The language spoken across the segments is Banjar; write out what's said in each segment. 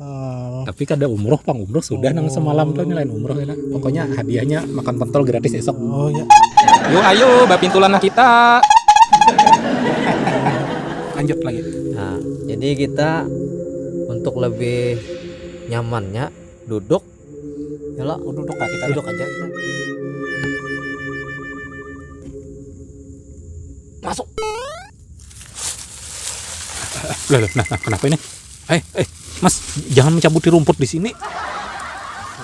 Uh, tapi kada umroh pang umroh sudah oh. nang semalam tuh lain umroh ya pokoknya hadiahnya makan pentol gratis esok oh ya yuk ayo bapintulan lah kita lanjut lagi nah jadi kita untuk lebih nyamannya duduk ya lah oh, duduk lah kita duduk aja kita. masuk Loh, loh, nah, nah, kenapa ini? Eh, eh, Mas, jangan mencabuti rumput di sini.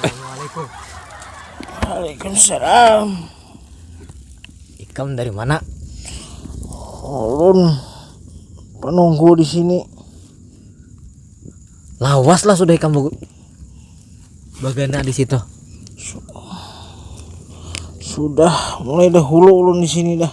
Eh. Waalaikumsalam. Ikam dari mana? Ulun penunggu di sini. Lawas lah sudah ikam bagana di situ. Sudah mulai dahulu ulun di sini dah.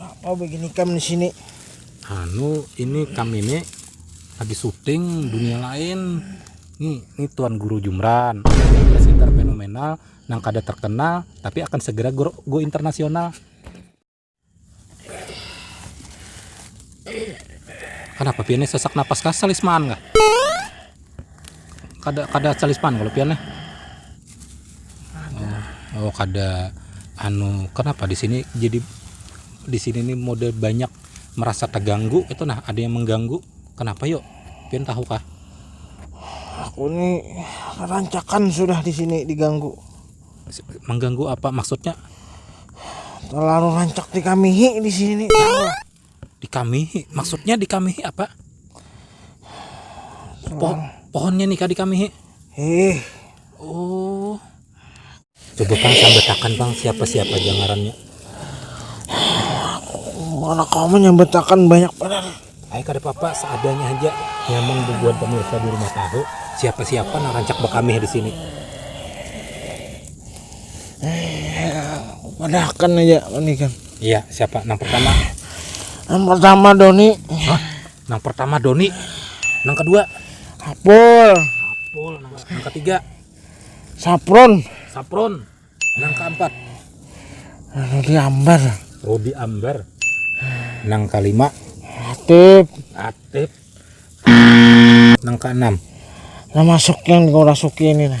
Apa begini kam di sini? Anu, ini kam ini lagi syuting dunia lain. Nih, ini Tuan Guru Jumran. Ini sekitar fenomenal yang kada terkenal tapi akan segera go, go internasional. Kenapa piannya sesak napas kasal Isman kah? kada kada calispan kalo pian nih oh kada anu kenapa di sini jadi di sini nih model banyak merasa terganggu itu nah ada yang mengganggu kenapa yuk pian tahu kah aku nih rancakan sudah di sini diganggu mengganggu apa maksudnya terlalu rancak di kamihi di sini dikamihi maksudnya dikamihi apa po pohonnya nih kadi kami eh oh coba pang sambetakan pang siapa siapa aja ngarannya anak kamu nyambetakan banyak benar Ayo kada apa-apa seadanya aja nyamang bubuhan pemirsa di rumah tahu siapa-siapa nang rancak bekamih di sini Padahkan aja ini kan. Iya, siapa? Nang pertama. Yang pertama Doni. Hah? Nang pertama Doni. Nang kedua Apul. Apul. Nang, nang ketiga Sapron. Sapron. Nang keempat Rudi Ambar. Rudi Ambar. Nang kelima Atip. Atip. Nang keenam Nah masuk yang dikorasuki ini nah.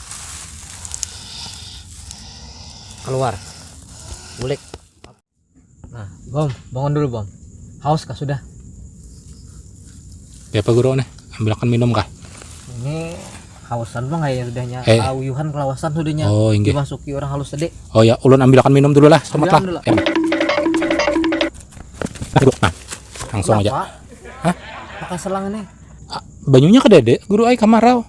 keluar bulik nah bom bangun dulu bom haus kah sudah ya apa guru nih ambilkan minum kah ini hausan bang ya udahnya eh. auyuhan kelawasan sudahnya oh, inggih. dimasuki orang halus tadi oh ya ulun ambilkan minum dulu lah selamat lah ya. nah, langsung Kenapa? aja Hah? pakai selang ini ah, banyunya ke dede guru ay kamarau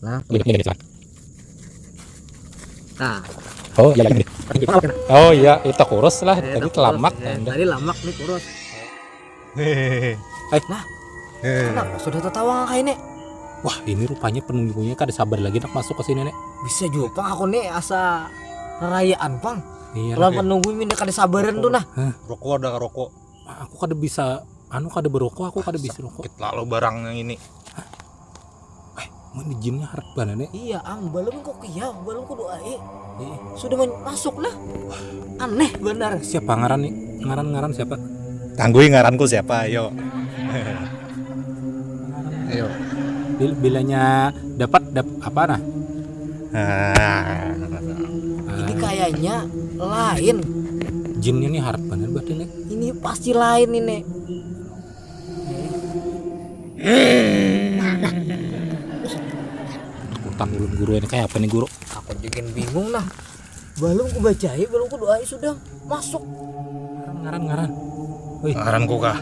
Nah, nah. Oh iya, iya. Oh iya, itu kurus lah. Eh, tadi telamak. Eh, tadi lamak nih kurus. Hehehe. Eh, nah. Kenapa sudah tertawa kayak ini? Wah, ini rupanya penunggunya kada sabar lagi nak masuk ke sini, Nek. Bisa juga, Pang. Aku nih asa rayaan, Pang. Iya, Kalau menunggu ini kada sabaran tuh nah. Rokok ada rokok. Aku kada bisa anu kada berokok aku kada bisa rokok. Sakit lalu barang yang ini. Eh, mana jinnya harap banan eh. Iya ang, balum kok iya, balum kudu ae. Eh. Sudah masuk lah. Aneh benar. Siapa ngaran nih? Ngaran-ngaran siapa? Tanggui ngaranku siapa, ayo. ayo. Bilanya dapat dap apa nah? Ah. Ini kayaknya lain. Jinnya nih harap banar berarti nih. Ini pasti lain ini. Utang ulun guru ini kayak apa nih guru? Aku juga bingung lah. Belum ku bacai, belum ku doai sudah masuk. Ngaran ngaran. Wih. Ngaran ku kah?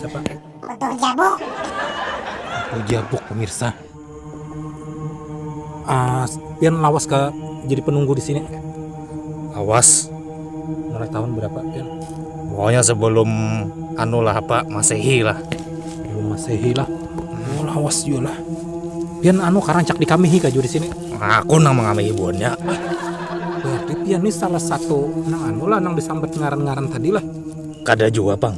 Siapa? Utuh Jabuk. Utuh Jabuk pemirsa. Ah, pian lawas ka jadi penunggu di sini? Lawas. Mulai tahun berapa pian? Pokoknya sebelum anu lah apa masehi lah. Sebelum masehi lah. Oh, lawas juga lah. Pian anu karancak dikamihi ka juga di sini? Aku nang mengamihi buhannya. Berarti pian ni salah satu nang anu lah nang disambat ngaran-ngaran tadi lah. Kada jua pang.